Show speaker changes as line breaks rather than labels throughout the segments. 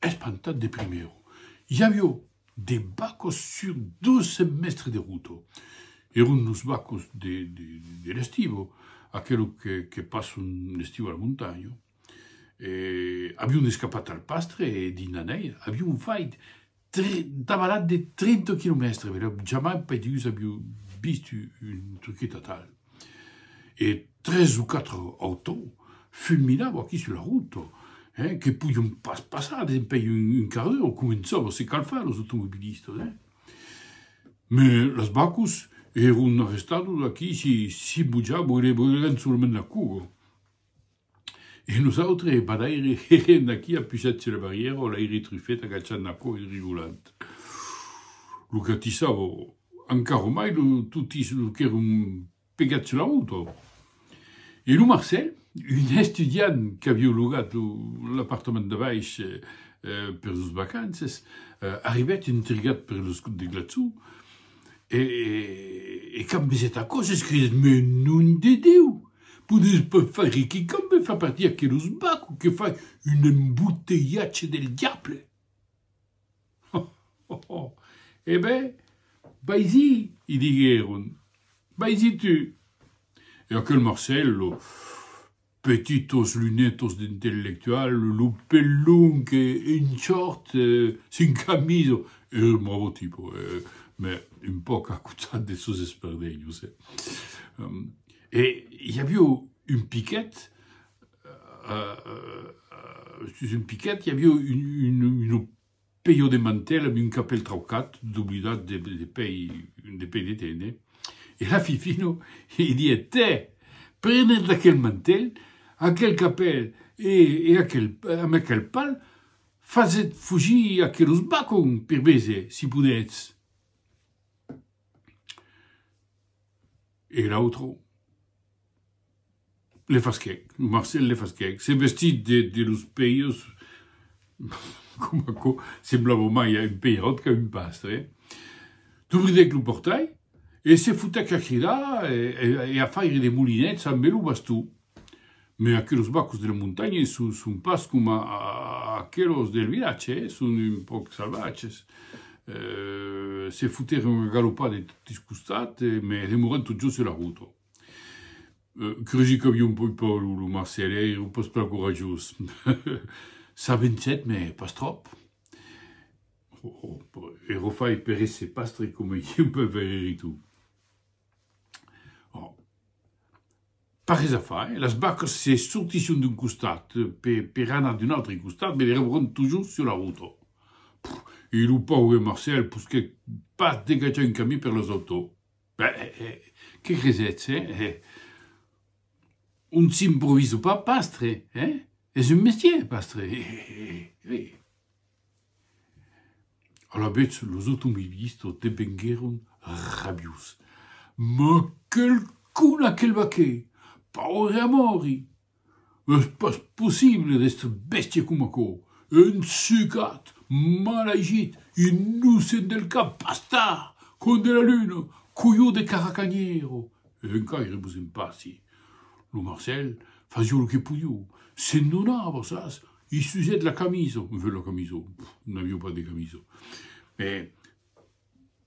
Espantat de primièr, Javiò, de bacos sur dos semèstres de ruta. Èron los bacos de l'estiu, aquelos que passon l'estiu a la montanha. Avion escapat al pastre e dins la nèia. Avion fait davalat de trenta quilomèstres, jamai paidús aviò vist un truquet atal. e tres o quatre autou fulminau aquí sus la rota, hein, que podion pas passar dempèi un quart d'ora, començavan a se calfar los automobilistas, hein. Me las bacos èron arrestados aquí, si, si bojava, boirèvan solament la coga. E nosautres, e pas aire, hègen d'aquí a pujat sus la barrièra o l'aire trufèt agachant la còu e rigolant. Lo catissau o, encara o mai, lo tutís, lo qu'èron pegats sus la rota. E lo Marcèl, un estudiant qu'avió logat l'apartament de baish per los vacances, arribèt intrigat per los de Glaçó e, quand vesèt aquò, s'escridèt, Mès, nom de Déu! Podes pas faire que quand me fa partir aquelos baco que fai un embotelhatge del diable. Oh oh oh. E ben, vaisí, i diguèron, vaisí tu. E aquel Marcello, petitos lunetos d'intellectual, lo pel long e un short sin camisa, es un bravo tipo, mès un pauc a cotat de sos esperdenhos, eh. E i avió un piquet, sus un piquet, i avió un peió de mantel amb un capèl traucat, doblidat de pei de tene, e la Fifino i diet, tè, prenèt d'aquel mantel, aquel capèl e amb aquel pal fasèt fugir aquelos bacon per veser si podètz. E l'autre le fasquèc, lo Marcel le fasquèc, se vestís de de los pèirs, coma aquò semblava mai a un peiròt qu'a un pastre, dubridèc lo portai e se fotèc a cridar e a faire de molinets ambe lo baston. Mès aquelos bacos de la montanha son pas coma aquelos del vilatge, son un pauc salvatges. Se fotèron una galopada de totis costats, mès demorèron totjorn sus la rota. Cresi qu'aviá un pauc paur lo Marcèl, èra un pauc plan corajós. S'avançèt, mès pas tròp. Ero fai per èsser pastre coma ieu, per veire-li tot. Ò, pas res a far, las vacas se sortisson d'un costat pe, per anar d'un autre costat, me rebront tojorn sur la rota. E lo paure Marcèl posquèt pas degatjar un camin per las autò. Ben, que cresetz, eh? On s'improvisa pas pastre, eh? Es un mestièr, pastre, eh! Alavetz, los automobilistas devenguèron rabiós. Mas quel con aquel vaquèr! Paure amòri! Es pas possible d'èstre bèstia coma aquò! Un sucat, mal agit, innocent del cap, bastard, con de la luna, coió de caracanhèro! Encaire vos en passi! Lo Marcèl fasiá lo que podiá, se'n donava, sas, Il sujet de la camisa, me fait la camisa, nous n'avions pas de camisa, mais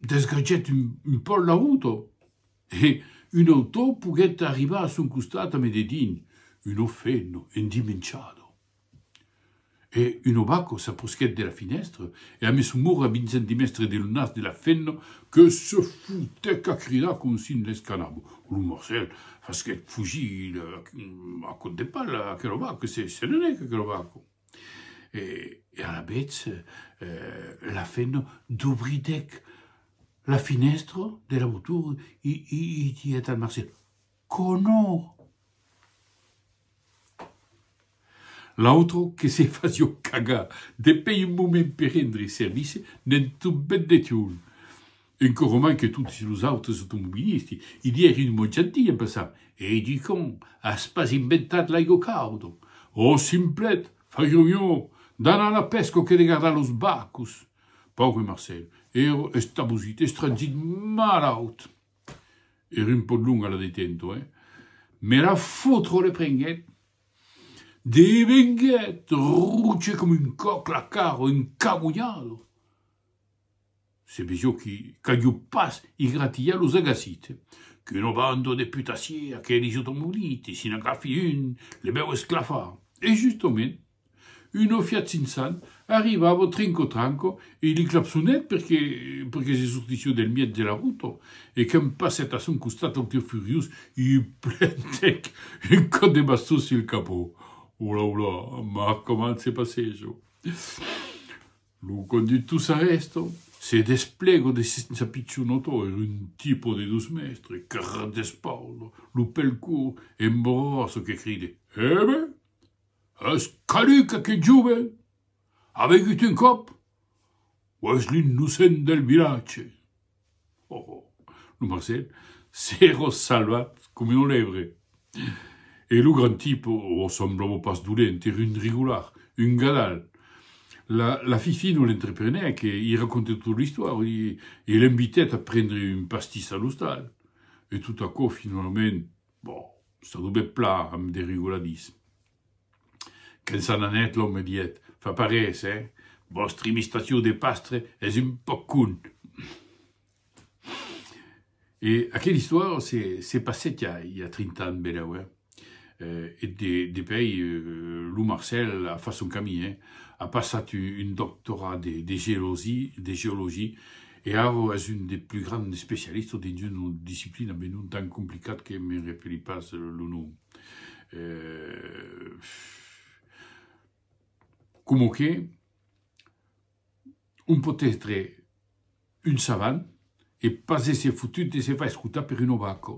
desgratgèt un, un pòl la ruta e un autò poguèt arribar a son costat a me dedin, una femna endimenchada. E un obaco s'aprosquèt de la finèstra e a meson mur a vinzent dimestre de lo nas de la femna que se fotèc a cridar com si ne l'escanava. Lo Morcèl fasquèt fugir a còp de pala aquelo barco, se n'anèc aquelo barco. E alavetz la fèna dobridèc la finèstra de la votura e didec al Marcèl, Conò! L'autro que se fasió cagar de pei un moment per rendre servici, ne'n tombèt un. Un que roman que toti los autres automobilisti i li èri un mot gentil en pensant, Ei du con, as pas inventat l'aigo caudo? O simplet, farió mió d'anar a la pèsca que de gardar los barcos! Pauvre Marcèl, èra estabosit, estranzit, malaut! Era un pòc longa la detento, eh? Me la fotro, reprenguèt. Devenguèt roge coma un còc, la cara encabulhada. Se vegeu que qu'aviu pas igratilhat los agasit. Qu'una banda de putassiers, aqueles automolites, si n'agafi un, le vèu esclafar. E justament. Una Fiat 500 arribavo trinco tranco e li clapsonet perque perque se sortissiu del mièg de la ruta e que'm passet a son costat lo tir furiós e i plantèc un còp de baston sul capó. Ola ola, mas coman se passejo! Lo conductor s'arrèsta, se desplega de sensa pichon otò, era un tipo de dos mèstres, carrat d'espauda, lo pèl cort e emborrasso que cride, Hebe! Es caduc aquel jove? A vegut un còp? O es l'innocent del vilatge? Ho, ho! Lo Marcel s'èra salvat coma una lèbre. E lo grand tipe, o semblava pas dolent, èra un rigolard, un gadal. La, la Fifino l'entreprenèc e i racontèt tota l'istòria e, e l'invitèt a prendre un pastís a l'ostal. E tot aquò finalament Bon, ça dubèt plan amb de rigoladisme. Quand s'an anèt, l'òme me dièt, Fa pas res, eh? Vòstre imitacion de Pastre es un pauc con. E aquela istòria se se passèt ja i a trinta ans benèu, eh? E de depèi, lo Marcèl a fach son camin, eh? A passat un doctorat de de geologia E Aro es un des plus grands especialistes dins una disciplina ben un tant complicat que me'n repelis pas lo nom. Coma que on pòt èstre un savant e pas èsser fotut de se far escotar per un obaco.